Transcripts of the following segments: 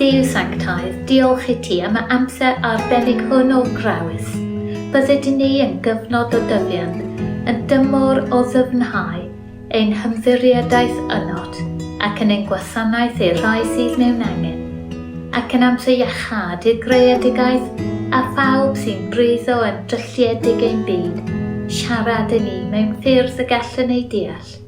Duw Sanctaidd, diolch i ti am y amser arbennig hwn o Grawys. Bydded i ni yn gyfnod o dyfiant, yn dymor o ddyfnhau ein hymddiriedaeth ynot, ac yn ein gwasanaeth i'r rhai sydd mewn angen, ac yn amser iachâd i'r greadigaeth a phawb sy'n breuddw yn drylliedig ein byd, siarad i ni mewn ffyrdd y gallwn eu deall.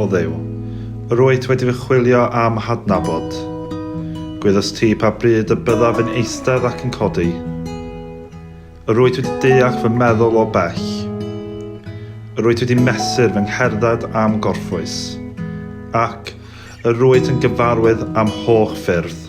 O Dduw, yr wyt wedi fy chwilio a'm hadnabod. Gwyddost ti pa bryd y byddaf yn eistedd ac yn codi. Yr wyt wedi deall fy meddwl o bell. Yr wyt wedi mesur fy ngherdded a'm gorffwys. Ac yr wyt yn gyfarwydd â'm holl ffyrdd.